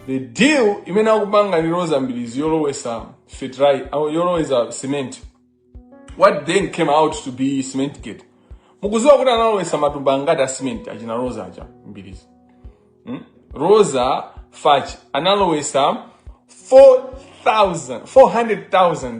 the deal imene akupanga ndi roza mbilizi yolowesa fertilizer yolowesa cement what then came out to be cement gate mukuziwa kuti analowesa matumba angati a cement achina roza aja mbilizi hmm? roza fach analowesa 400000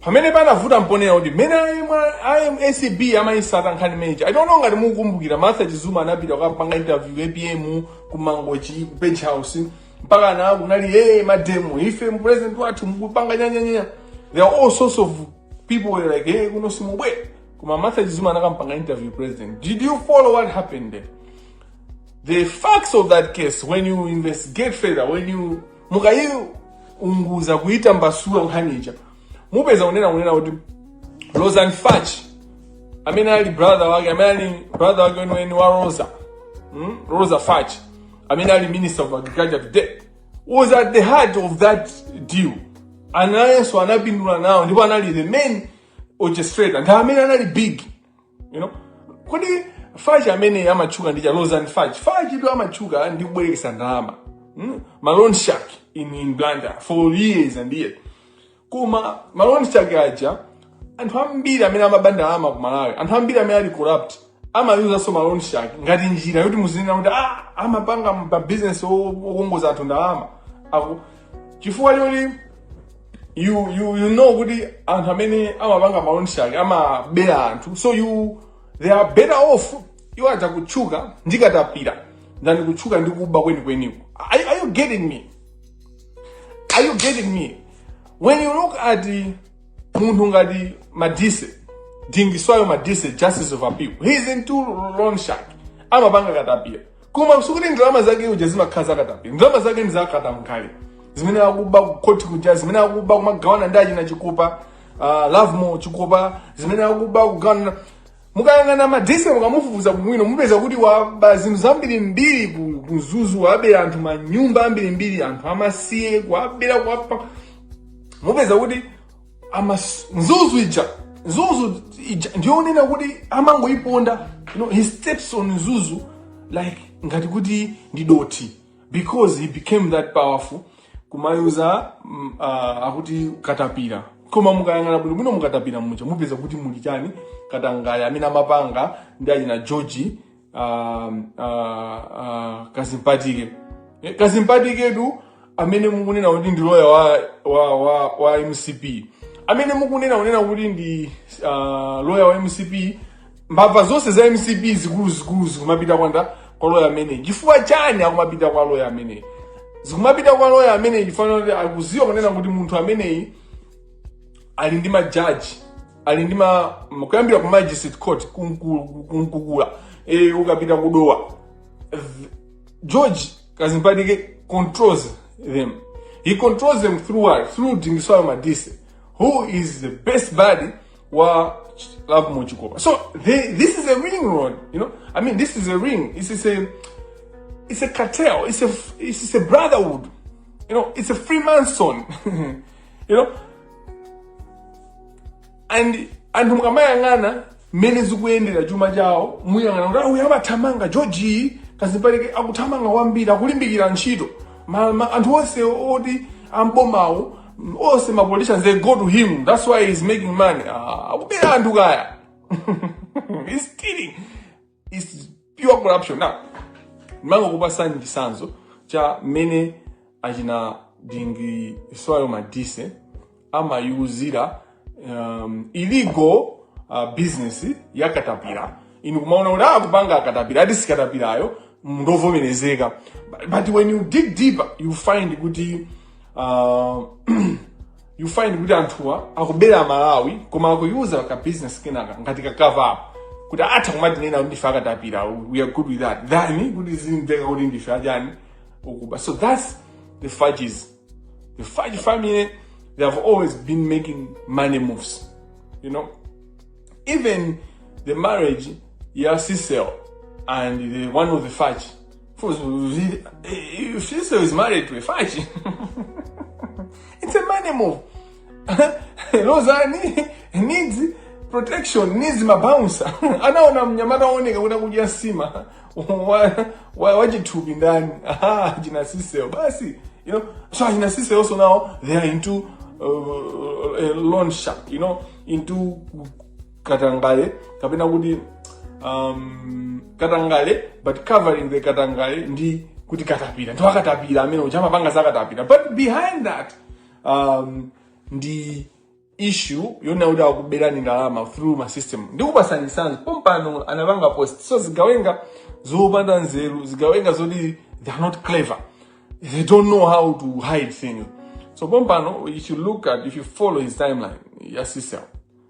pamene panavuta mponera kuti mmene a acb amayisata nkhani imene ija I don't know ngati mukukumbukira martha chizuma anapita kukapanga interview apm kumangochi ku beach house mpaka ana kunali hey mademo ife president wathu mukupanga nyanyanya there are all sorts of people were like hey kuno simubwera koma martha chizuma anakampanga interview president did you follow what happened there the facts of that case when you investigate further when you mukayiunguza kuyitambasula nkhani ija mupeza kunena kunena kuti rosan fach amene ali brother wake amene ali brother wake weniweni wa rosa mm? rosa fach amene ali minister of agriculture today was at the heart of that deal nayenso anapindula nawo ndipo anali the main orchestrator ndi amene anali big you know kodi fachi amene amatchuka ndi cha rosan fachi fachi ndo amatchuka ndi kubwerekesa ndalama mm? ma loan shark in, in blantyre for years and years koma ma loan shark aja anthu ambiri amene amaba ndalama ku malawi anthu ambiri amene ali corrupt amayuzanso ma loan shark ngati njira yoti muzinena kuti ah, amapanga mabizinesi okongoza anthu ndalama Aku- chifukwa choti you you you know kuti anthu amene amapanga ma loan shark amabera anthu so they are better off iwo aja kutchuka ndi katapira than kutchuka ndi kuba kwenikweniko are, are you getting me are you getting me when you look at munthu ngati madise dingiswayo madise justice of appeal he's into loan shark amapanga katapira koma sikuti ndalama zake uja zimakhala zakatapi ndalama zake ndi zakatangale zimene akuba kukhoti kuja zimene akuba kumagawana ndi achina chikupa uh, lovemore chikupa zimene akuba kugawana mukayang'ana madise mukamufufuza bwino mupeza kuti waba zinthu zambirimbiri ku- ku mzuzu wabera anthu manyumba ambirimbiri anthu amasiye kuwabera kuwapa mupeza kuti amas mzuzu ija mzuzu ija ndiyonena kuti amangoyiponda you know, he steps on mzuzu like ngati kuti ndi dothi because he became that powerful kumayuza mm, ah, akuti katapira koma mukayang'ana bwino bwino mukatapira muja mupeza kuti muli chani katangale amene amapanga ndi achina george ah, ah, ah, kadzipatike Eh, kadzipatiketu amene mukunena kuti ndi loya wa, wa, wa, wa mcp amene mukunena kunena kuti ndi ah, loya wa mcp mbava zonse za mcp zikuluzikulu zikumapita kwanda kwa loya amene chifukwa chani akumapita kwa loya amene zikumapita kwa loya amene chifukwa choti akuziwa kunena kuti munthu ameneyi ali ndi majaji ali ndi ma ma- kuyambira ku magistrate court kunku- kunkukula e, ukapita kudowa Th- george kazimpatike controls them he controls them through what through dingiswayo madise who is the best buddy wa love muchikopa so they, this is a ring road you know i mean this is a ring this is a it's a cartel it's a it's a brotherhood you know it's a freemason you know and anthu mukamayang'ana mmene zikuyendera chuma chawo muyang'ana kuti ah uyo amathamanga george kadzipatike akuthamanga kwambiri akulimbikira ntchito Ma- ma- anthu onse oti ambomawo onse ma politicians they go to him that's why he's making money Ah, akubera anthu kaya he's stealing It's pure corruption. Now, mango kupasa ndisanzo cha mene achina dingi soyo madise ama yuzira um, illegal uh, business ya katapira inu kumaona kuti akupanga akatapira ati sikatapirayo ndovomerezeka but, but when you dig deeper you find kuti uh, you find kuti anthuwa akubera malawi koma akuyuza ka business kenaka ngati ka cover up kuti atha kumatinena kuti ndife akatapira we are good with that than kuti zimveka kuti ndife achani okuba so that's the Fatches the Fatch family they have always been making money moves you know even the marriage ya Cecil and the one of the Fatch If she is married to a fachi, it's a money move. Lozani needs protection, needs mabouncer. Anaona mnyamata waoneka kuda kuja nsima wachithupi ndani achina siseo basi you know so achina siseo so now they are into uh, uh, loan shark you know into katangale kapena kuti um, katangale but covering the katangale ndi kuti katapira ndi wakatapira amene uja amapanga za katapira but behind that um, ndi issue yonena kuti akuberani ndalama through ma system ndikupasani sanzi pompano anapanga post so zigawenga zopanda nzeru zigawenga zoti they are not clever they don't know how to hide things so pompano if you look at if you follow his timeline ya Cecil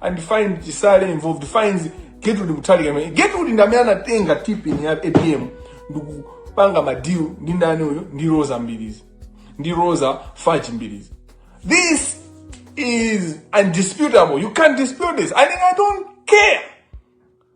and find Chisale involved finds Gertrude Mutharika amene Gertrude ndi amene anatenga TPIN ya APM ndikupanga madeal ndi ndani uyu ndi Roza Mbilizi ndi Roza Fatch Mbilizi this is undisputable you can't dispute this and I don't care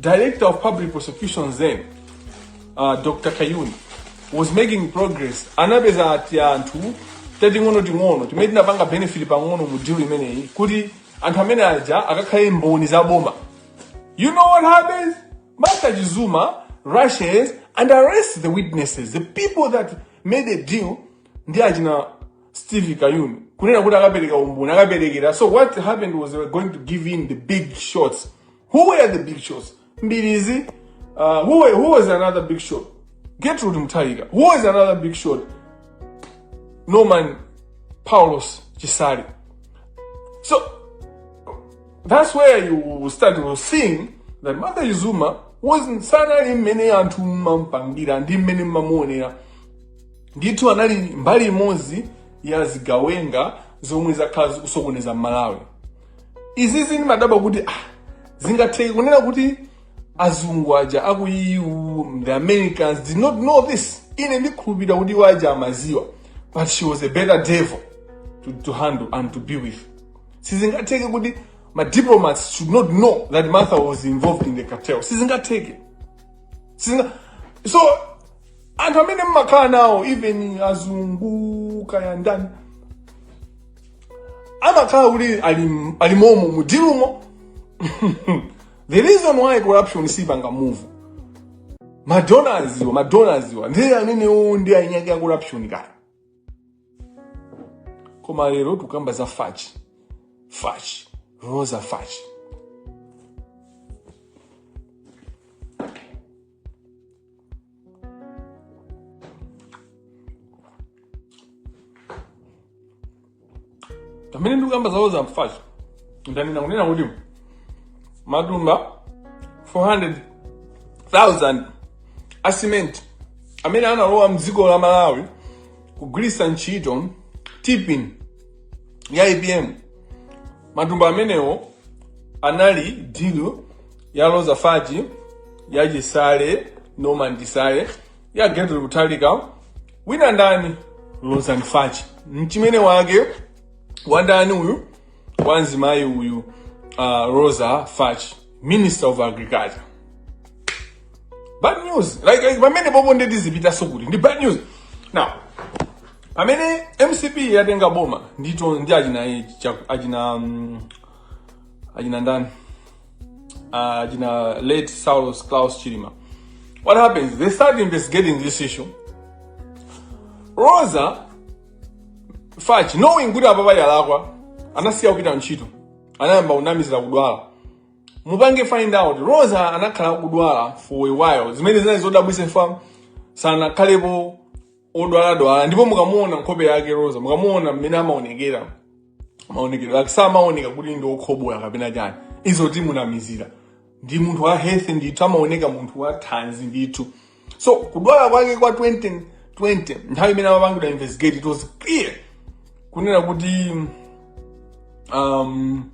Director of Public Prosecutions then, uh, Dr. Kayuni, was making progress. Anapeza tianthu tating'ono ting'ono timene tinapanga benefit pang'ono mu deal imeneyi kuti anthu amene aja akakhale mboni za boma. You know what happens? Martha Chizuma rushes and arrests the witnesses, the people that made a deal ndi achina Steve Kayuni kunena kuti akapereka umboni akaperekera. So what happened was they were going to give in the big shots Who were the big shots? Mbilizi. Uh, who, were, who was another big shot? Gertrude Mutharika. Who was another big shot? Norman Paulosi Chisale. So that's where you start seeing that Martha Chizuma wasn't sanali mmene anthu mmampangira ndi mmene mmamuonera ndithu anali mbali imodzi ya zigawenga zomwe zakhala zikusokoneza mmalawi izizi ndimadabwa kuti ah, zingatheke kunena kuti azungu aja aku EU the Americans did not know this ine ndikhulupirira kuti iwo aja amadziwa but she was a better devil to, to handle and to be with sizingatheke kuti ma diplomats should not know that Martha was involved in the cartel sizingatheke sizinga so anthu amene mmakhala nawo even azungu kaya ndani amakhala kuti ali- alimomo mu dilumo the reason why corruption siipanga move madonors iwo madonors iwo ndi amenewo ndi eniake a corruption kaya koma lero tikukamba za fachi fachi roza fachi pamene ndikukamba za roza fachi ndanena kunena kuti matumba 400,000 a cement amene analowa mdziko la malawi kugwiritsa ntchito TPIN ya apm matumba amenewo anali deal ya roza fachi ya chisale norman chisale ya gertrude mutharika wina ndani roza fachi mchimene wake wandani uyu wamzimayi uyu uh, roza fachi minister of agriculture bad news like, like pamene pompo ndiye tizipitanso kuti ndi bad news now pamene mcp yatenga boma ndito ndi achina achina um, achina ndani uh, you know, late Saulos Klaus Chilima. What happens? They start investigating this issue. Roza Fachi, knowing kuti apapa yalakwa, anasiya kupita ntchito. Anayamba kunamizira kudwala. Mupange find out. Roza anakhala kudwala for a while. Zimene zinali zodabwitsa fam sanakhalepo odwaladwala ndipo mukamuona nkhope yake roza mukamuona mmene amaonekera maonekedwe ake samaoneka kuti ndi okhobola kapena chani izo tingomunamizira ndi munthu wa health ndithu amaoneka munthu wa thanzi ndithu so kudwala kwake kwa 2020 nthawi imene amapangidwa investigate it was clear kunena kuti um,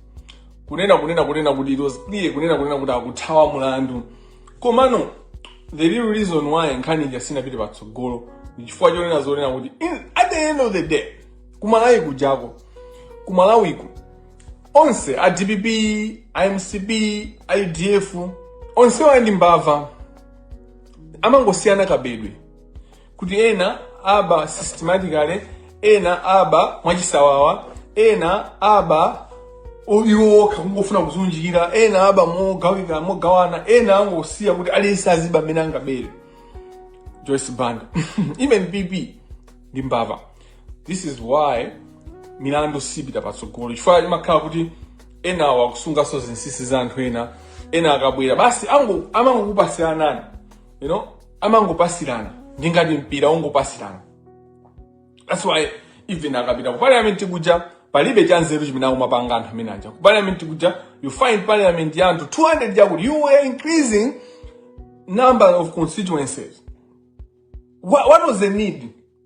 kunena kunena kunena kuti it was clear kunena kunena kuti akuthawa mulandu komano the real reason why nkhani ija siinapite patsogolo ndi chifukwa chonena zonena kuti in- at the end of the day kumalawi kujako kumalawiku onse a dpp a mcp a udf onsewa ndi mbava amangosiyana kabedwe kuti ena aba systematically ena aba mwachisawawa ena aba o- iwo okha kungofuna kuzunjikira ena aba mogawana ena angosiya kuti aliyense aziba mmene angabere joyce banda even pp ndi mbava this is why milandu siyipita patsogolo chifukwa imakhala kuti enawo akusunganso zinsinsi za anthu ena ena akabwera basi ango- amangokupasiranani you know amangopasirana ndi ngati mpira ongopasirana that's why even akapita ku parliament kuja palibe cha nzeru chimene akumapanga anthu amene aja ku parliament kuja you find parliament ya anthu 200 chakuti you were increasing number of constituencies what, what was the need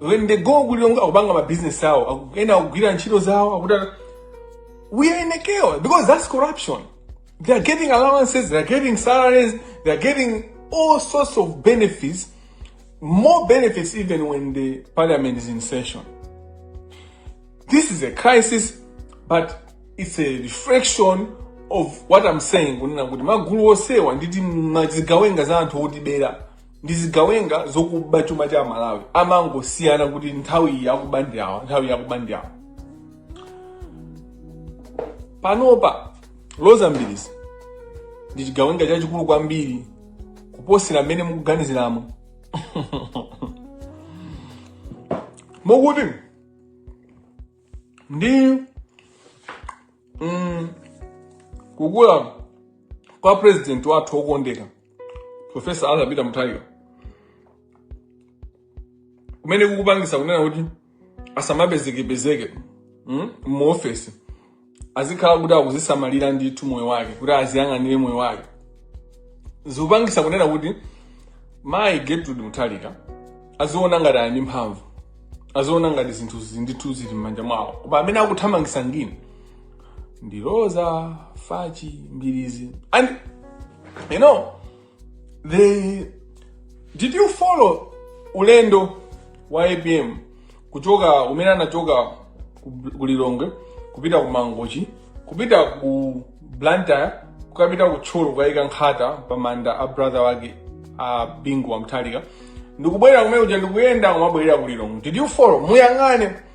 when they go ku Lilongwe akupanga ma business awo aku- ena akugwira ntchito zawo akuta we are in a chaos because that's corruption they are getting allowances they are getting salaries they are getting all sorts of benefits more benefits even when the parliament is in session this is a crisis but it's a reflection of what i'm saying kunena kuti magulu onsewa ndi timazigawenga za anthu otibera ndi zigawenga zokuba chuma cha amalawi amangosiyana kuti nthawi iyi akuba ndi awa nthawi iyi akuba ndi awa panopa roza mbilizi ndi chigawenga chachikulu kwambiri kuposera mmene mukuganiziramo mokuti ndi mm, kukula kwa president wathu wokondeka profesa arthur peter mutharika kumene kukupangisa kunena kuti asamapezekepezeke mm, muofesi azikhala kuti akuzisamalira ndithu moyo wake kuti aziyang'anire moyo wake zikupangisa kunena kuti mayi gertrude mutharika aziona ngati ali ndi mphamvu aziona ngati zinthu ndithu zili m'manja mwawo koma amene akuthamangisa injini ndi roza fachi mbilizi and you know did you follow ulendo wa apm kuchoka umene anachoka ku- ku lilongwe kupita ku mangochi kupita ku blantyre kukapita ku thyolo kukayika nkhata pa manda a brother wake a bingu wa mutharika ndikubwerera kumene kuja ndikuyenda kumabwerera ku lilongwe did you follow muyang'ane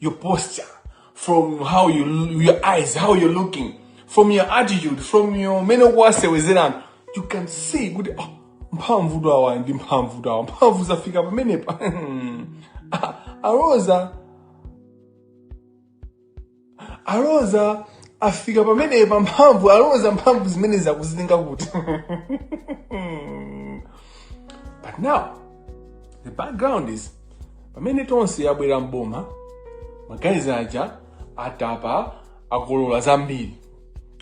your posture, from how you your eyes, how you're looking, from your attitude, from your mmene amasewezera, you can see kuti oh, mphamvu tawa ndi mphamvu tawa mphamvu zafika pamenepa Ah, a Rosa a Rosa afika pamenepa mphamvu a Rosa mphamvu zimene zakuzitenga kuti but now the background is pamene tonse yabwera mboma magayizi aja atapa akolola zambiri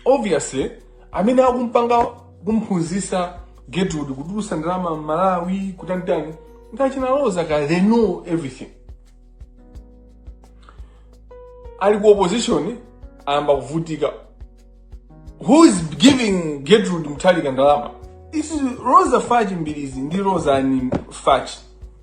obviously amene akumpanga kumphunzisa Gertrude kutulusa ndalama mmalawi kutanitani ndi achina Rosa ka they know everything ali ku opposition ayamba kuvutika who is giving Gertrude Mutharika ndalama is Rosa Fachi Mbilizi ndi rosa ni fachi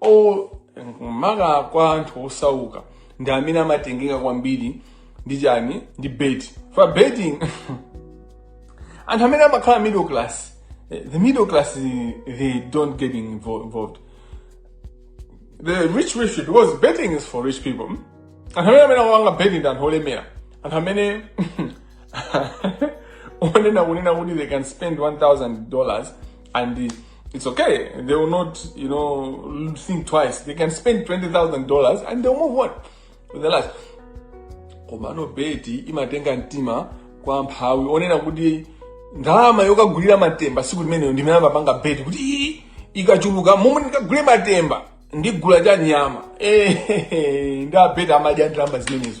o maka kwa anthu osauka ndi amene amatengeka kwambiri ndi chani ndi beti for betting anthu amene amakhala middle class eh, the middle class eh, they don't get invo- involved the rich rich people because betting is for rich people anthu amene amene akupanga betting ndi anthu olemera anthu amene onena kunena kuti they can spend 1000 dollars and it's okay. They will not, you know, think twice. They can spend $20,000 and they'll move on with their lives. komano beti imatenga mtima kwa mphawi onena kuti ndalama yokagulira matemba siku limenelo ndimene amapanga beti kuti ii ikachuluka momwe ndikagule matemba ndigula cha nyama ndi abeti amadya ndalama zimenezo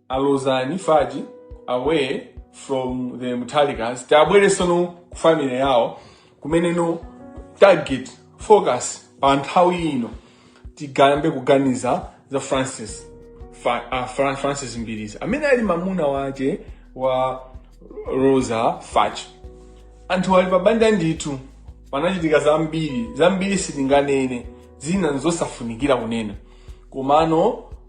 a Rosa ni Fachi away from the Mutharikas tiabweresenso ku family yawo kumeneko target focus pa nthawi ino tiyambe kuganiza za francis Fa, uh, Fra, francis mbilizi amene ali mamuna wache wa Rosa Fachi anthu ali pabanja ndithu panachitika zambiri zambiri sitinganene zina nzosafunikira kunena komano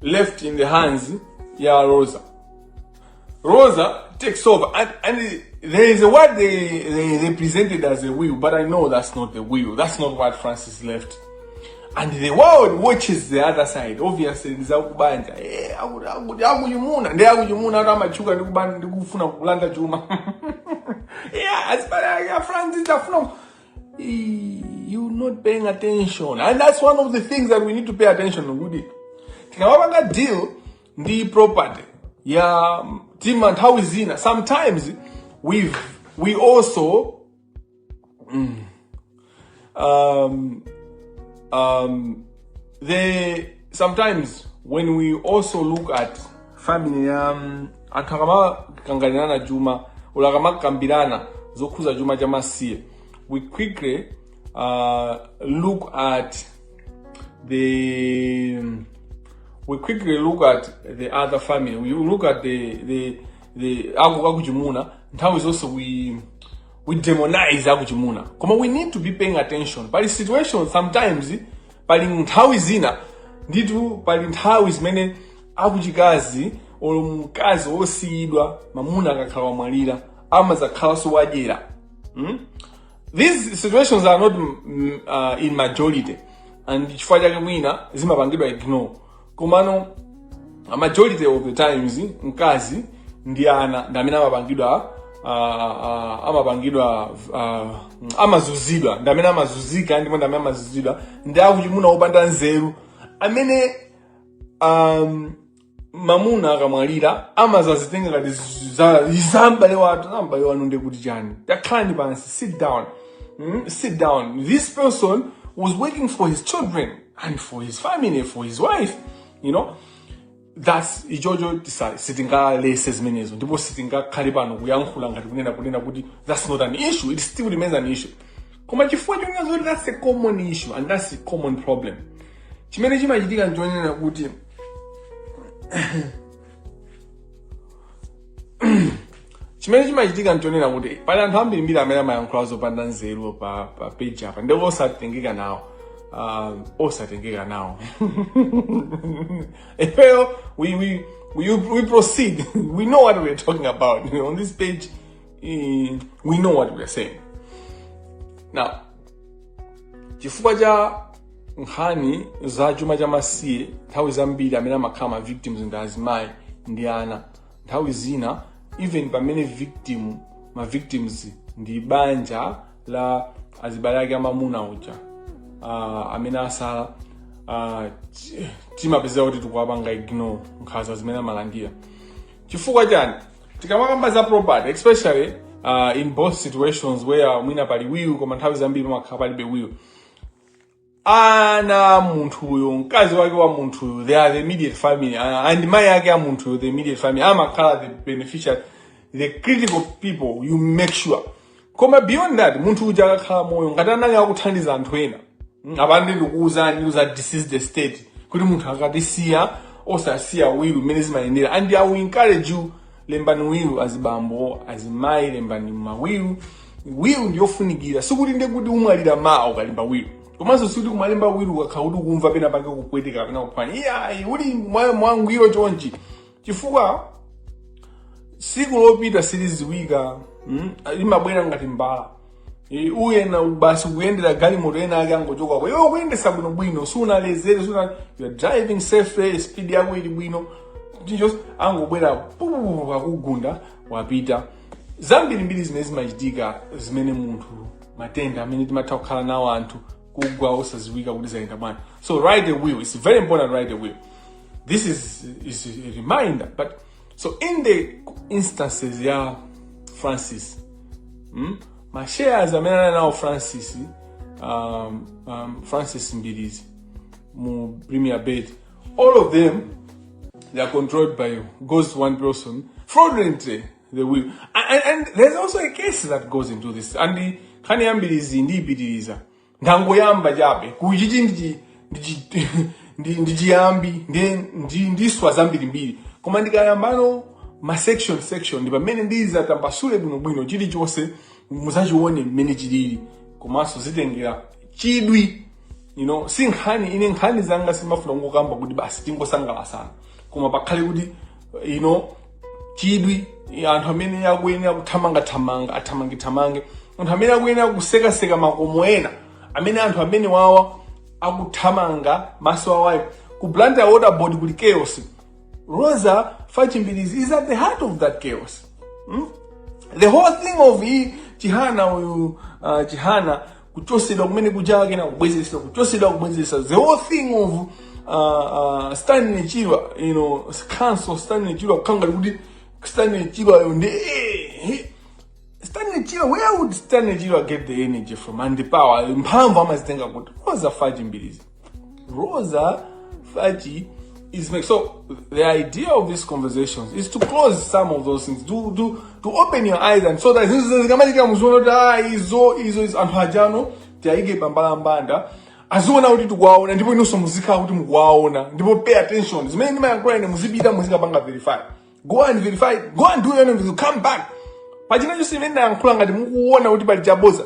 left in the hands ya Rosa. Rosa takes over and, and there is a what they, they presented as a will, but I know that's not the will. That's not what Francis left. And the world watches the other side. Obviously, ndi akubanja. Eh, akuti akuti akuchimuna. Ndi akuchimuna ati amachuka ndi kubanja ndi kufuna kulanda chuma. Yeah, azibale a ya Francis afuna you're not paying attention and that's one of the things that we need to pay attention kuti tikamapanga deal ndi property yah timanthawi zina sometimes we we also mm, um, um, the sometimes when we also look at family ya um, anthu akamakanganirana chuma olo akamakambirana zokhuza chuma cha masiye we quickly uh, look at the we quickly look at the other family we look at the the the aku akuchimuna nthawi zonse we we demonize akuchimuna koma we need to be paying attention pali situation sometimes pali nthawi zina ndithu pali nthawi zimene akuchikazi olo mkazi wosiyidwa mamuna akakhala wamwalira amazakhalanso wadyera hmm? these situations are not mm, uh, in majority and chifukwa chake mwina zimapangidwa ignore komano a majority of the times mkazi ndi ana ndi amene amapangidwa ah, ah, amapangidwa ah, amazuzidwa ndi amene amazuzika ndipo ndi amene amazuzidwa ndi akuchimuna opanda nzeru amene um, mamuna akamwalira amazazitenga ngati za- za m'bale wathu za m'bale wanu ndiye kuti chani takhalani pansi sit down mm? sit down this person was working for his children and for his family for his wife you know that's ichocho tisa- sitingaletse zimenezo ndipo sitingakhale pano kuyankhula ngati kunena kunena kuti that's not an issue it still remains an issue koma chifukwa chonena zoti that's a common issue and that's a common problem chimene chimachitika nchonena kuti chimene chimachitika nchonena kuti pali anthu ambirimbiri amene amayankhula zopanda nzeru pa pa page apa ndipo osatengeka nawo um, osatengeka nawo ifeyo we, we, we, we proceed we know what we're talking about on this page eh, we know what we're saying now chifukwa cha nkhani za chuma cha masiye nthawi zambiri amene amakhala ma victims ndi azimayi ndi ana nthawi zina even pamene victim ma victims ndi banja la azibale ake amamuna uja uh, amene asala uh, timapezeka kuti tikuwapanga ignore nkhanza zimene amalandira chifukwa chani tikamakamba za property especially uh, in both situations where mwina pali will koma nthawi zambiri pamakhala palibe will ana a munthuyo mkazi wake wa munthuyo they are the immediate family and- and mai ake a munthuyo the immediate family amakhala the beneficiary the critical people you make sure koma beyond that munthu uja akakhala moyo ngati anali akuthandiza anthu ena mm, apande ndikuwuzani ndiuza this is the state kuti munthu akatisiya osasiya will mmene zimayendera and i will encourage you lembani will azibambo azimayi lembani mawill will ndiyofunikira sikuti nde kuti umwalira mawa ukalemba will komanso sikuti umalemba will ukakhala kuti ukumva pena pake kupweteka kapena kuphwanya iyayi uli mwa- mwangwiro chonchi chifukwa siku lopita siliziwika mm? limabwera ngati mbala E, uyenda basi ukuyendera galimoto ena ake angochokako iweyo ukuyendesa bwino bwino sunalezere suna you are driving safely speed yako ili bwino just angobwera pupupu wakugunda wapita zambirimbiri zimene zimachitika zimene munthu matenda amene timatha kukhala nawo anthu kugwa osaziwika kuti zayenda bwanji so write a will it's very important write a will this is, is a reminder but so in the instances ya francis mm, ma shares amene anali nawo francis um, um, francis mbilizi mu premier bet all of them they are controlled by you goes to one person fraudulently they will and, and, and there's also a case that goes into this and the khani yambirizi ndiyipitiriza ndangoyamba chabe kuti ichi ndi ndi- ndi- ndi chiyambi ndi- ndi- ndiswa zambirimbiri koma ndikayambano ma section section ndi pamene ndizatambasule bwinobwino chilichonse muzachione mmene chilili komanso zitengera chidwi you know si nkhani ine nkhani zanga sindimafuna kungokamba kuti basi tingosangalasana koma pakhale kuti you know chidwi yeah anthu amene akuyenera kuthamangathamanga athamangethamange anthu amene akuyenera kusekaseka makomo ena amene anthu amene awawa akuthamanga maso awowo ku blantyre water board kuli chaos rosa fatch mbilizi is at the heart of that chaos hmm? the whole thing of hii chihana uyu uh, chihana kuchosedwa kumene kuja kenaka kubwezesa kuchosedwa kubwezesa the whole thing of uh, uh, stanley chirwa you know counsel stanley chirwa kukhala ngati kuti stanley chirwa yo ndi eh, eh. stanley chirwa where would stanley chirwa get the energy from and the power mphamvu amazitenga kuti rosa fatch mbilizi Rosa Fatch is make so the idea of these conversations is to expose some of those things to to to open your eyes and so that zinthu zikamachitika muziona kuti ah izo izo izo anthu aja ano tiayike pambalambanda aziona kuti tikuwaona ndipo inonso muzikhala kuti mukuwaona ndipo pay attention zimene ndimayankhula ine muzipita muzikapanga verify go and verify go and do your own come back pachina chonse chimene ndayankhula ngati mukuona kuti pali chaboza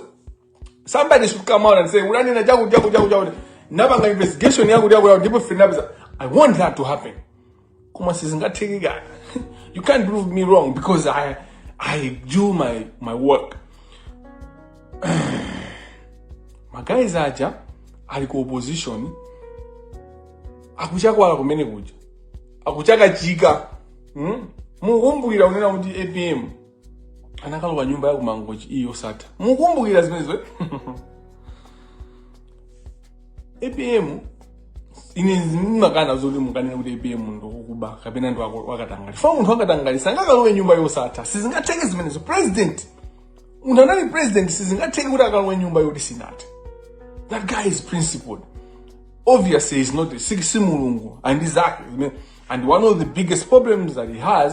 somebody should come out and say unanena chakuti chakuti chakuti chakuti napanga investigation yakuti yakuti yakuti ndipo proof ndinapeza i want that to happen koma sizingatheke kaye you can't prove me wrong because i i do my my work maguys aja ali ku opposition akuchakwala kumene kuja akuchakachika hmm? mukumbukira kunena kuti apm anakalowa nyumba ya kumangochi iyi yosatha mukumbukira zimenezo eh? apm ine ndimakana zoti mukanene kuti apm ndi wakuba kapena ndi wako- wakatangali chifukwa munthu wakatangali sangakalowe nyumba yosatha sizingatheke zimenezo president munthu anali president sizingatheke kuti akalowe nyumba yoti sinathe that guy is principled obviously he's not a si si mulungu and zake zimene- and one of the biggest problems that he has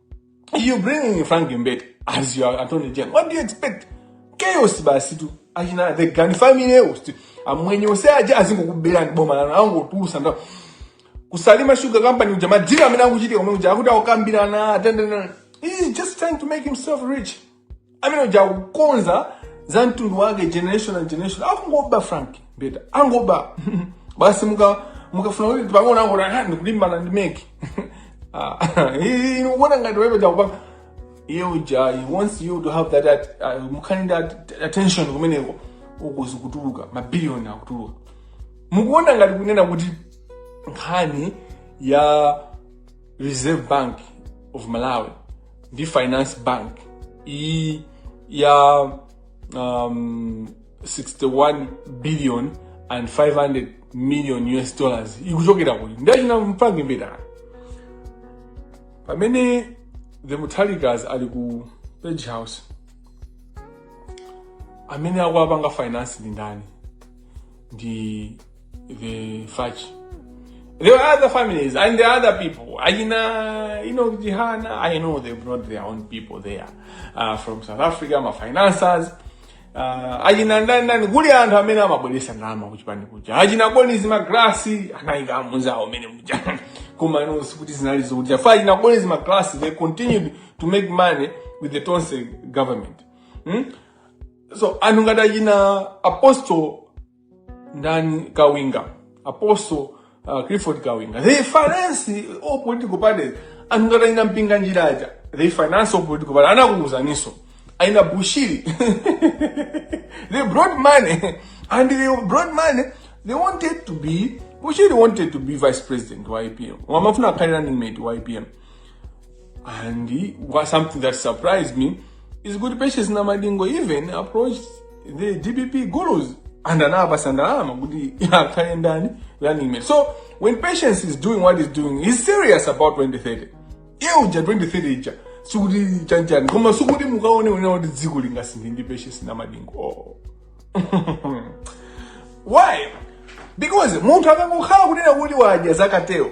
You bring in Frank Mbete as your attorney general. What do you expect? Chaos basi tu. Achina the Gani family host. Amwenye ose aje azingokubera boma lanu angotulusa ndo. Kusalima Sugar Company uja madira amene akuchitika omwe uja akuti akukambirana atendena. He's just trying to make himself rich. amene uja akukonza za mtundu wake generation and generation akungoba frank mbeta angoba basi muka mukafuna kuti pang'ono angoti "Ah, ndikulimbana ndi MEC ukuona ngati wewe jakupanga iye uja he wants you to have that at, uh, mukhani ndi at- attention kumeneko ukuzi kutuluka mabiliyoni akutuluka mukuona ngati kunena kuti nkhani ya reserve bank of malawi ndi finance bank iyi ya um, 61 billion and 500 million us dollars ikuchokera kuti ndi achina frank mbeta pamene the mutharikas ali ku page house amene akuwapanga finance ndi ndani ndi vifachi there were other families and there are other people achina you know jihana i know they brought their own people there uh, from south africa ma financiers uh, achina ndani ndani kuli anthu amene amabweresa ndalama kuchipani kuja achina bonface magalasi anayika amunzawo amene muja koma ino sikuti zinali zokuti chifukwa achina bonface magalasi they continued to make money with the tonse government hmm? so anthu ngati achina apostle ndani kawinga apostle uh, clifford kawinga they finance all political parties anthu ngati achina mpinganjira aja they finance all political parties ndakuwuzaninso achina bushiri they brought money and they brought money they wanted to be bushiri wanted to be vice president wa apm amafuna akhale running mate wa apm And he, something that surprised me is kuti Patience Namadingo even approached the DPP gurus and anapatsa ndalama kuti akhale ndani running mate. So when Patience is doing what he's doing, he's serious about 2030. Iye uja 2030 ija sikuti chanjani koma sikuti mukaone unena kuti dziko lingasinthe ndi Patience Namadingo. Oh. Why? Because munthu akangokhala kunena kuti wadya zakatero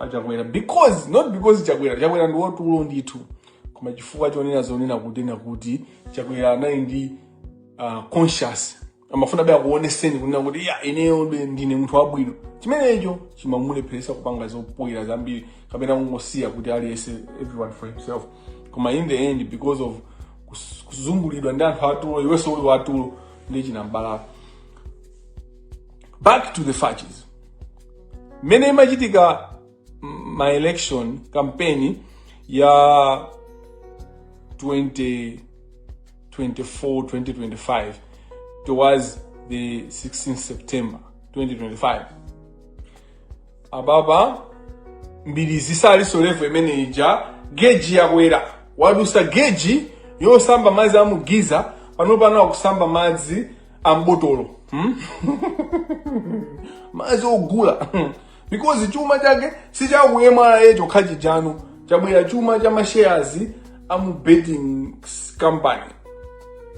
a Chakwera because not because chakwera chakwera ndi watulo ndithu koma chifukwa chonena zonena kutena kuti chakwera anali ndi uh, conscious amafuna be akuoneseni kunena kuti ya ineyo be ndine munthu wabwino chimenecho chimamulepheresa kupanga zoipa zambiri kapena kungosiya kuti aliyense everyone for himself koma in the end because of kus- kuzungulidwa ndi anthu atulo iwenso uli watulo ndi chinambala back to the facts mmene imachitika ma election campaign ya 2024 2025 towards the 16 september 2025 amaba mbiri zisalinso levo imene ija geji yakwera wadusa geji yosamba madzi a mu geyser pano pano akusamba madzi ambotolo hmm? madzi ogula because chuma chake sicha ku MRA chokha chijano chabwera chuma cha mashares a mu betting s- company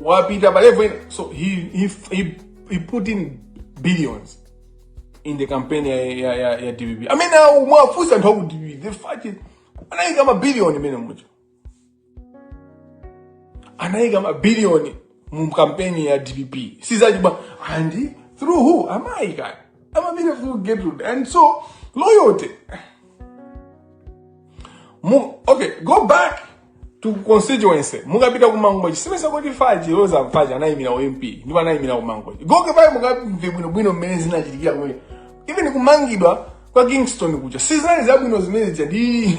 wapita pa level ina so he, he, he, he put in billions in the campaign ya, ya, ya, ya dpp amene awo mwafunsa anthu a ku dpp the fact is anayika mabiliyoni imene mucho anayika mabiliyoni mu kampeni ya dpp sizachibwana and through who amayi kani amapita through gertrude and so loyalty Mu, okay go back to constituency mukapita kumangochi simmesa kuti Faiti Roza Mbilizi anayimira u mp ndipo anayimira kumangochi go back mukamve bwinobwino mmene zinachitikira kumeneko even kumangidwa kwa Kingston kuja sizinali zabwino zimene zija ndi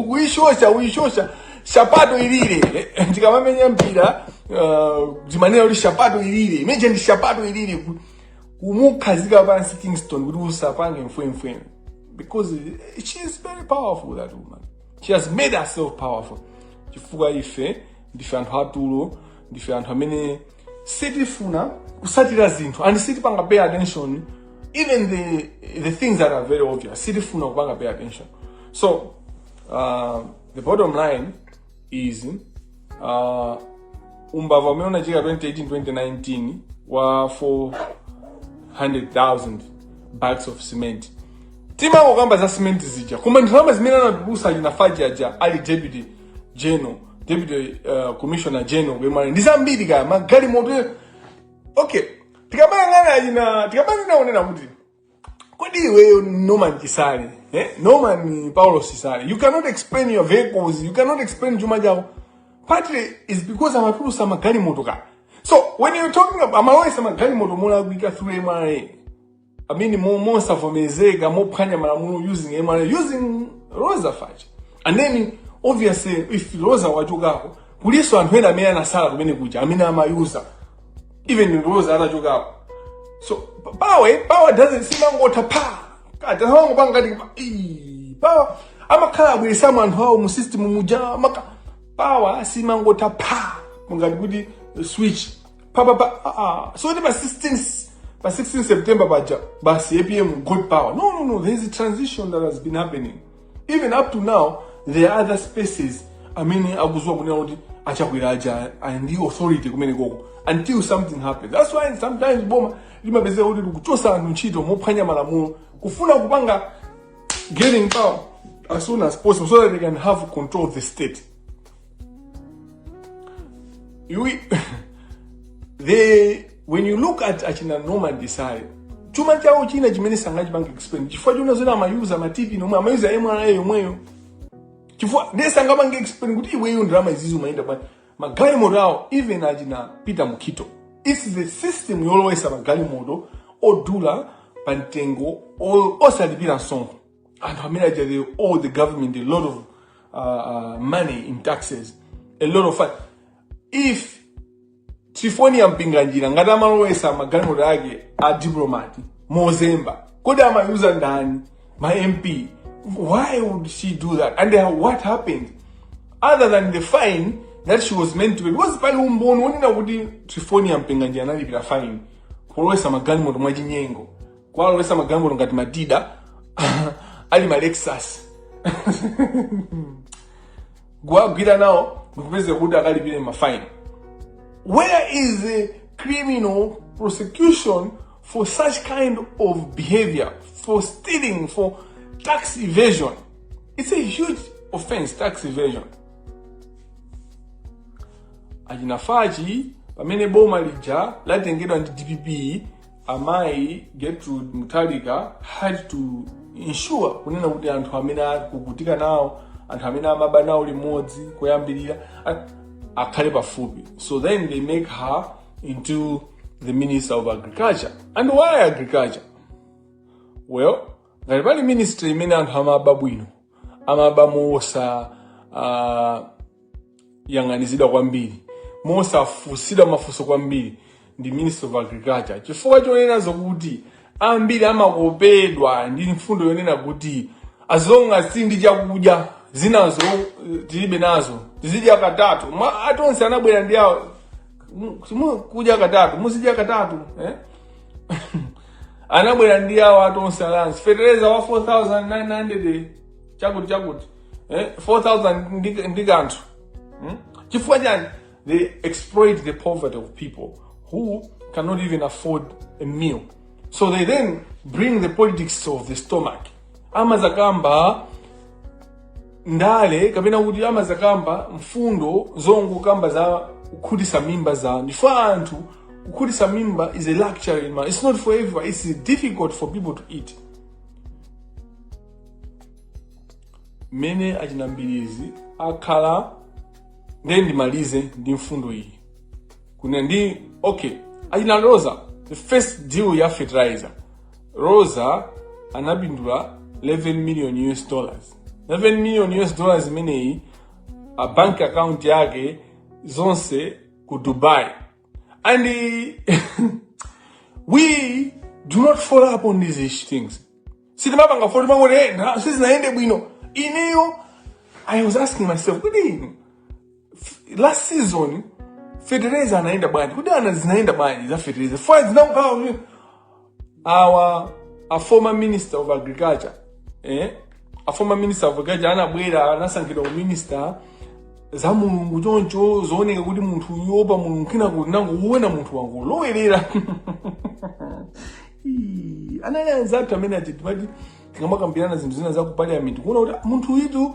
kuyishosha uyishosha shapato ilile ndikamamenya mpira uh, zimanena kuti shapato ilile imene ija ndi shapato ilile ku- kumukhazika pansi Kingston kuti usapange mfwemfwe because she is very powerful that woman she has made herself powerful chifukwa ife ndife anthu atulo ndife anthu amene sitifuna kusatira zinthu and sitipanga pay attention even the the things that are very obvious sitifuna kupanga pay attention so uh, the bottom line is uh, umbava umene unachitika 2018 2019 wa 400000 bags of cement timangokamba za cement zija koma ndalama zimene anatulusa chinafaji aja ali deputy general deputy uh, commissioner general ku MRA ndi zambiri kaya magalimoto okay tikamayang'ana achina tikamanena zonena kuti kodi iweyo norman chisale eh? norman paulosi chisale you cannot explain your vehicles you cannot explain chuma chako partly is because amatulusa magalimoto kaya so when you're talking about amalowesa magalimoto molakwika through mra I mean mo- mosavomerezeka mophwanya malamulo using mra using Roza Fatch and then obviously if Roza wachokako kulinso anthu ena amene anasala kumene kuja amene amayuza even Roza atachokako so p- power power doesn't simangotha pa kati amangopanga ngati pa- ii, power amakhala abweresamo anthu awo mu system muja amaka power simangotha pa ngati kuti switch pa pa pa ah, ah. so ndi pa 16 pa 16 September paja basi APM got power no no no there is a transition that has been happening even up to now there are other spaces amene akuziwa kunena kuti a Chakwera aja ali ndi authority kumene koko until something happens that's why sometimes boma limapezeka kuti likuchosa anthu ntchito mophwanya malamulo kufuna kupanga getting power as soon as possible so that they can have control of the state You, they, when you look at achina Norman Chisale, chuma chawo china chimene sangachipange explain chifukwa chona zoti amayuza ma TPIN omwe amayuza MRA yomweyo chifukwa ndiye sangapange explain kuti iweyo ndalama izizi umayenda bwanji magalimoto awo even achina Peter Mukito it's the system yolowesa magalimoto odula pa mtengo o- osalipira msonkho anthu amene aja they owe the government a lot of uh, uh, money in taxes a lot of fa- if Triephornia Mpinganjira ngati amalowesa magalimoto ake a diplomati mozemba kodi amayuza ndani ma mp why would she do that and uh, what happened other than the fine that she was meant to pay because pali umboni wonena kuti Triephornia Mpinganjira analipira fine polowesa magalimoto mwachinyengo kuwalowesa magalimoto ngati ma Tiida ali ma lexus kuwagwira nawo ndikupezeka kuti akalipire mafaini where is the criminal prosecution for such kind of behavior for stealing for tax evasion it's a huge offense tax evasion achina Fatch pamene boma lija latengedwa ndi dpp amayi gertrude mutharika had to ensure kunena kuti anthu amene akukutika nawo anthu amene amaba nawo limodzi kuyambirira a- akhale pafupi so then they make her into the minister of agriculture and why agriculture well ngati pali ministry imene anthu amaba bwino amaba mowosa uh, yang'anizidwa kwambiri mosafusidwa mafunso kwambiri ndi ministry of agriculture chifukwa chonena zokuti ambiri amakopedwa ndi mfundo yonena kuti as long as si ndi chakudya zinazo eh, tilibe nazo tizidya katatu Ma- a Tonse anabwera ndi awo mu- simu- kudya katatu muzidya katatu eh? anabwera ndi awo a Tonse Alliance fetereza wa 4900 chakuti chakuti eh, 4000 ndi, ndi kanthu hmm? chifukwa chani they exploit the poverty of people who cannot even afford a meal so they then bring the politics of the stomach amazakamba ndale kapena kuti amazakamba mfundo zongokamba za kukhutisa mimba za ndife anthu kukhutisa mimba is a luxury it's not for everyone it's difficult for people to eat mmene achina Mbilizi akhala ndiye ndimalize ndi mfundo iyi kuna ndi okay achina rosa the first deal ya fertilizer rosa anapindula 11 million us dollars 11 million us dollars imeneyi ma bank account ake zonse ku dubai And eh, we do not follow up on these things. Sitimapanga fo- timangoti eh, ndalama sizinayende bwino. Ineyo I was asking myself, kuti last season fertilizer anayenda bwanji kuti ana zinayenda bwanji za fertilizer fire zinakukhala awa a former minister of agriculture eh? a former minister of agriculture anabwera anasankhidwa kukhala minister za mulungu choncho zooneka kuti munthuyu oopa mulungu kenako tinangoona munthu wangolowerera Ii, anali anzathu amene a chiti timati tikamakambirana zinthu zina za ku parliament kuona kuti munthu yitu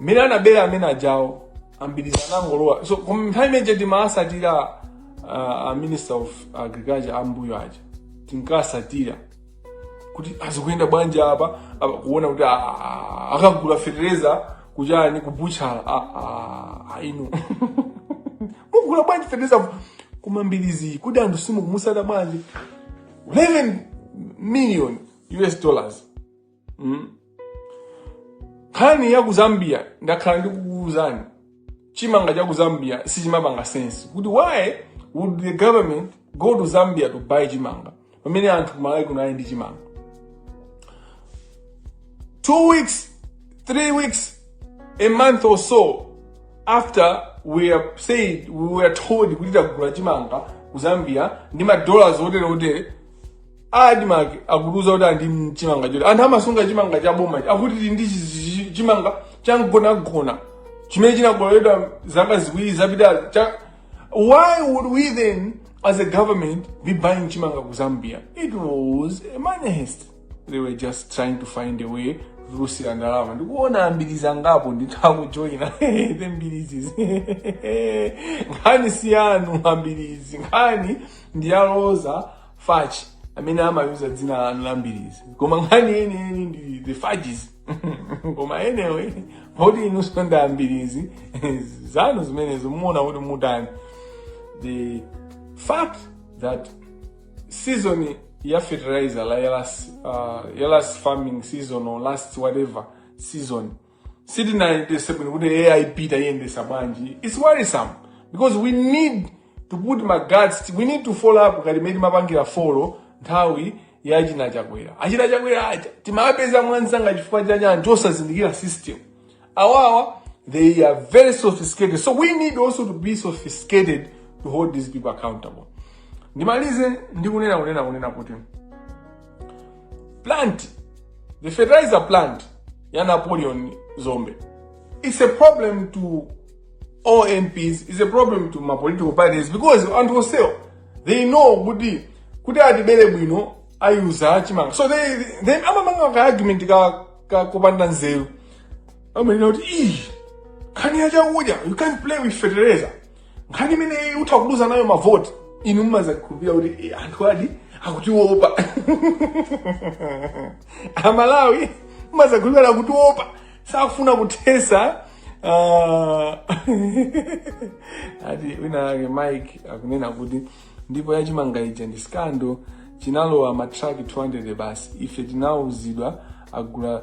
mmene anabera amene ajawo a Mbilizi anangolowa so koma nthawi imene ija timawatsatira uh, a minister of agriculture a mmbuyo aja tinkatsatira kuti ah zikuyenda bwanji apa apa kuona kuti ah, akagula fetereza kuchani ku butchala ah, ah, ah, inu mugula bwanji fetereza koma Mbilizi kodi anthu simukumutsata bwanji 11 million us dollars mm. nkhani ya ku zambia ndakhala ndikukuuzani chimanga cha ku zambia siyimapanga sense kuti why would the government go to zambia to buy chimanga pamene anthu kumalawi kuno ali ndi chimanga two weeks three weeks a month or so after we are told we were told kuti tagula chimanga ku zambia ndi madollars otere otere admark akutiuza kuti ali ndi mchimanga choti anthu amasunga chimanga cha boma akuti tili ndi chi- chi- chimanga chamgonagona chimene chinakololedwa zaka ziwiri zapitazo cha why would we then as a government be buying chimanga ku zambia it was a money heist they were just trying to find a way yoluzira ndalama ndikuona ambiriza ngapo ndithakujoyina the mbirizi nkhani siyanu ambirizi nkhani ndi ya Roza Fatchi amene amayuza dzina lanu la Mbirizi koma nkhani yeniyeni ndi the Fatchis koma anyway poti inunso ndi ambirizi zanu zimenezo muone kuti mutani the fact that season ya fertilizer la ya last, uh, ya last farming season or last whatever season sitinayendetse bwino kuti aip tayendesa bwanji its worrisome because we need to put ma guards we need to follow up ngati mmene timapangira follow nthawi ya china chakwera achita chakwera aja timapeza mwansanga chifukwa chani anthu osazindikira system awawa they are very sophisticated so we need also to be sophisticated to hold these people accountable ndimalize ndikunena kunena kunena kuti plant the fertilizer plant ya Napoleon Dzombe it's a problem to all mps it's a problem to ma political parties because anthu onsewo they know kuti kuti atibere bwino ayuza chimanga so they, they amamanga ka argument ka, ka kupanda nzeru amanena kuti ii nkhani ya chakudya you can't play with fertilizer nkhani imeneyi utha kuluza nayo mavoti inu mumadzakhulupirira kuti eh, anthu ati akutiwopa amalawi mumadzakhulupirira akutiwopa sakufuna kuthetsa ah, ati wina wake mike akunena kuti ndipo yachimanga ija ndi scandal chinalowa ma truck 200 basi ife tinauzidwa agula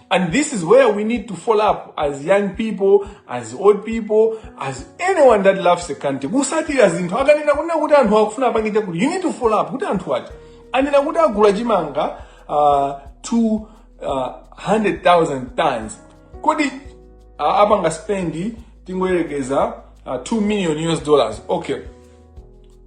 And this is where we need to follow up as young people, as old people, as anyone that loves the country. Kutsatira zinthu akanena kunena kuti anthu akufuna apange chakuti you need to follow up kuti anthu aja anena kuti agula chimanga uh, 200,000 tons kodi uh, apanga spend tingoyerekeza uh, 2 million US dollars okay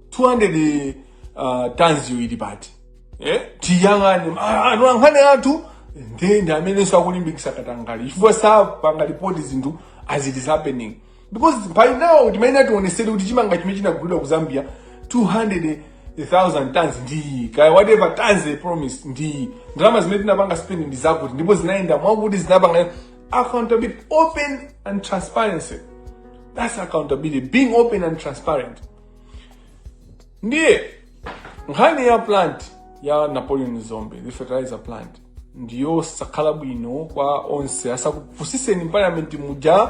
200 uh, tons yo ili pati eh tiyang'ane Ah, anthu a nkhani athu ndi ndi amene akulimbikitsa katangale chifukwa sapanga report zinthu as it is happening because by now timayenera tiwonetsedwe kuti chimanga chimene chinagulidwa ku zambia 200,000 tons ndi kaya whatever tons they promise ndi ndalama zimene tinapanga spend ndi zakuti ndipo zinayenda mwakuti zinapanga accountability open and transparency that's accountability being open and transparent ndiye nkhani ya plant ya napoleon Dzombe the fertilizer plant ndiyosakhala bwino kwa onse asakupusiseni parliament muja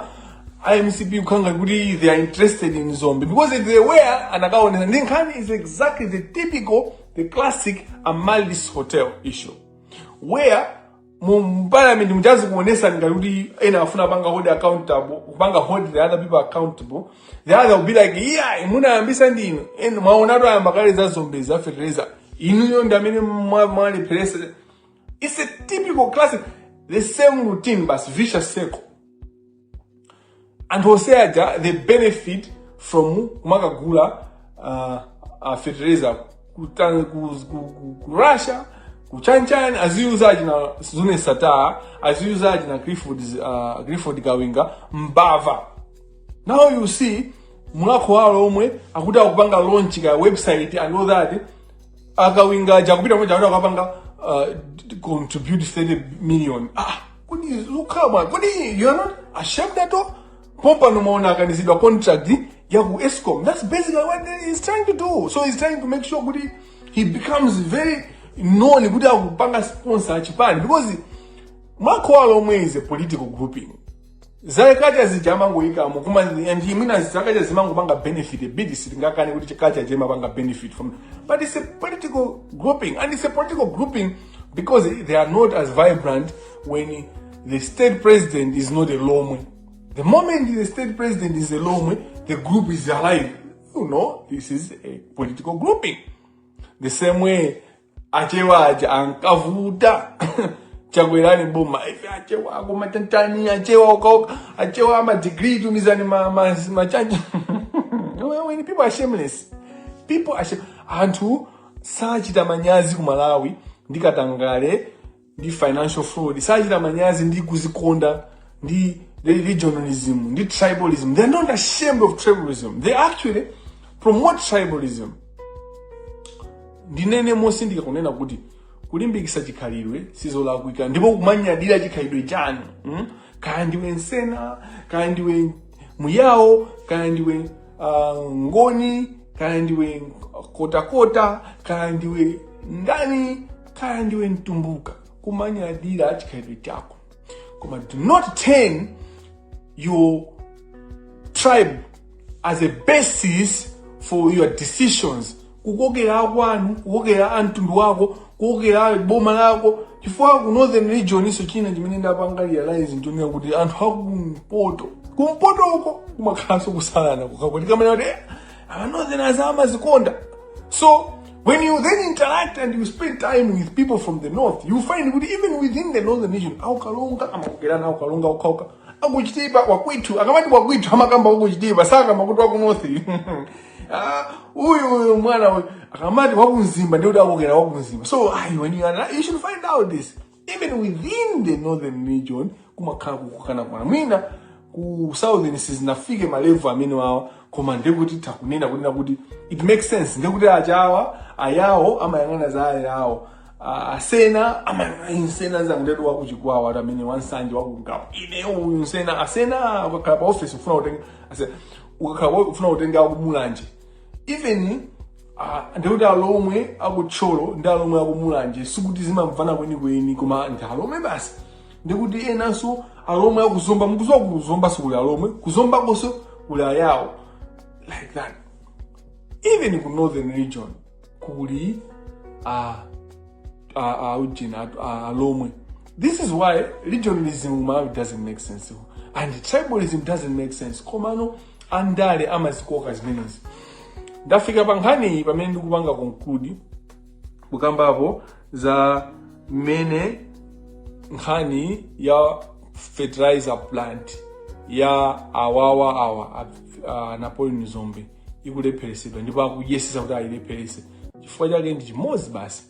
a MCP kukhala nga kuti they are interested in Dzombe because they were anakaonesa ndiye nkhani is exactly the typical the classic Amaryllis hotel issue where mu mparliament muja azikuonesani ngati kuti ena afuna kupanga hold accountable kupanga hold the other people accountable the other will be like iyayi munayambisa ndi inu ena mwaonatu ayamba kale za Dzombe za fertilizer inuyo ndi amene mwa- mwalepheresa it's a typical classic the same routine basi vicious circle anthu onse aja they benefit from kumakagula uh, uh, fertilizer ku, Tan- ku, ku, ku, ku russia ku chanchan aziuzaji na zone sataa aziuzaji na clifford, uh, clifford kawinga mbava now you see mulakho walo omwe akuti akupanga launch ka website and all that akawinga jakupita moja akuti akapanga uh, contribute 30 million ah kodi zikukhala bwanji kodi you're not ashamed at all pompano mwaona akanizidwa contract ya ku escom that's basically what he's trying to do so he's trying to make sure kuti he becomes very known kuti akupanga sponsor achipani because mulhako wa alomwe is a political grouping za kacha zija amangoyikamo koma and imina zakacha zimangopanga benefit bid sitingakane kuti chikacha chimapanga benefit from but it's a political grouping and it's a political grouping because they are not as vibrant when the state president is not a lomwe the moment the state president is a lomwe the group is alive you know this is a political grouping the same way achewa aja ankavuta chagwerani boma ife achewa akoma tanzania achewa ukaoka achewa amadigrii tumizani ma- ma- machaji When people are shameless people are shame. anthu sachita manyazi ku malawi ndi katangale ndi financial fraud sachita manyazi ndi kuzikonda ndi regionalism ndi tribalism they're not ashamed of tribalism they actually promote tribalism ndinene motsindika kunena kuti kulimbikisa chikhalidwe sizolakwika ndipo kumanyadira chikhalidwe chanu mm? kaya ndiwe msena kaya ndiwe myao kaya ndiwe uh, mngoni kaya ndiwe kotakota kaya ndiwe ndani kaya ndiwe mtumbuka kumanyadira chikhalidwe chako koma do not turn your tribe as a basis for your decisions kukokera akwanu kukokera amtundu wako kukokera boma lako chifukwa ku northern region-nso china chimene ndapanga realize n'choonera kuti anthu akumpoto kumpoto uko kumakhalanso kusalana kwakuti kamene kuti Our northerners amazikonda. So when you then interact and you spend time with people from the north, you find kuti even within the northern region, aukalonga amakugerana aukalonga ukauka akuchitipa wakwitu akamati wakwitu amakamba wakuchitipa sakamba kuti wakunothi Ah, uyu uyu mwana uyu akamati wakunzimba ndikuti akokera wakunzimba so ayi when you, are, you should find out this even within the northern region kumakhala kukukana kwana mwina ku southern sizinafike ma level amenewawa koma ndekuti takunena kunena kuti it makes sense ndekuti achawa ayawo amayang'ana za ayawo Ah, asena amayang'ana insena zanguletu wakuchikwawa ati amene wansanje wakungabu ine uyu msena asena ukakhala pa office ufuna kutenga asena ukakhala pa- ufuna kutenga akumulanje even Ah, ndekuti alomwe akutcholo ndi alomwe akumulanje sikuti amamvana kwenikweni koma ndi alomwe basi ndekuti enanso alomwe akuzomba mukuziwa kuzomba sikuli alomwe kuzomba konso kuli ayawo like that even ku northern region kuli uh, uh, uh, ujeni atu- uh, alomwe this is why regionalism in malawi doesn't make sense and tribalism doesn't make sense komano andale amazikoka zimenezi ndafika pa nkhaniyi pamene ndikupanga conclude kukambapo za mmene nkhani ya fertilizer plant ya awawa awa a, a napoleon dzombe ikulepheresedwa ndipo akuyesesa kuti ayilepherese chifukwa chake ndi chimodzi basi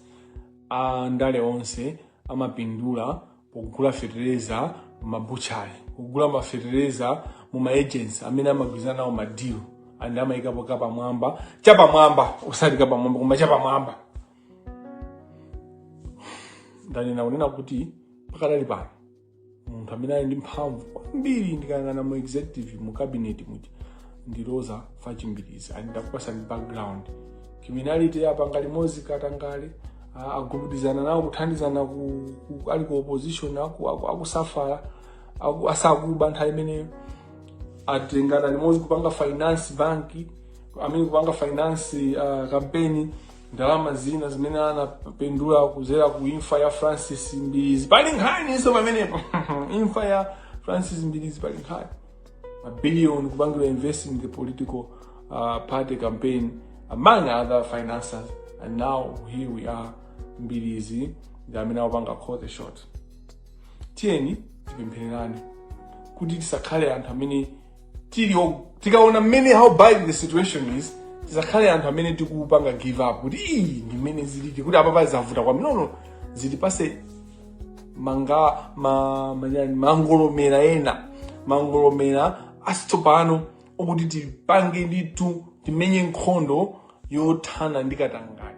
andale onse amapindula pokugula fetereza m'mabutchali kugula mafetereza mu ma agents amene amagwirizana nawo madilu and amayikapo kapamwamba chapamwamba osati kapamwamba koma chapamwamba ndanena kunena kuti pakadali pano munthu amene ali ndi mphamvu kwambiri ndikayang'ana mu executive mu cabinet muja ndi roza fatch mbilizi and ndakupasani background criminality apanga limodzi katangale ah, agubudizana nawo kuthandizana ku, ku, ali ku opposition aku- aku- akusafala aku- asakuba nthawi imene atengana limodzi kupanga finance bank amene kupanga finance uh, kampeni ndalama zina zimene anapindula kuzera ku imfa ya francis mbilizi pali nkhaninso pamenepo imfa ya francis mbilizi pali nkhani mabiliyoni kupangidwa invest in the political uh, party campaign among other financiers and now here we are mbilizi ndi amene akupanga call the shot tiyeni tipemphererane kuti tisakhale anthu amene tili o- tikaona mmene how bad the situation is tisakhale anthu amene tikupanga give up kuti ii ndi mmene zilili kuti apapa zavuta kwambiri nono zitipase manga ma, manyani, mangolomera ena mangolomera asitsopano oti tipange ndithu timenye nkhondo yothana ndi katangale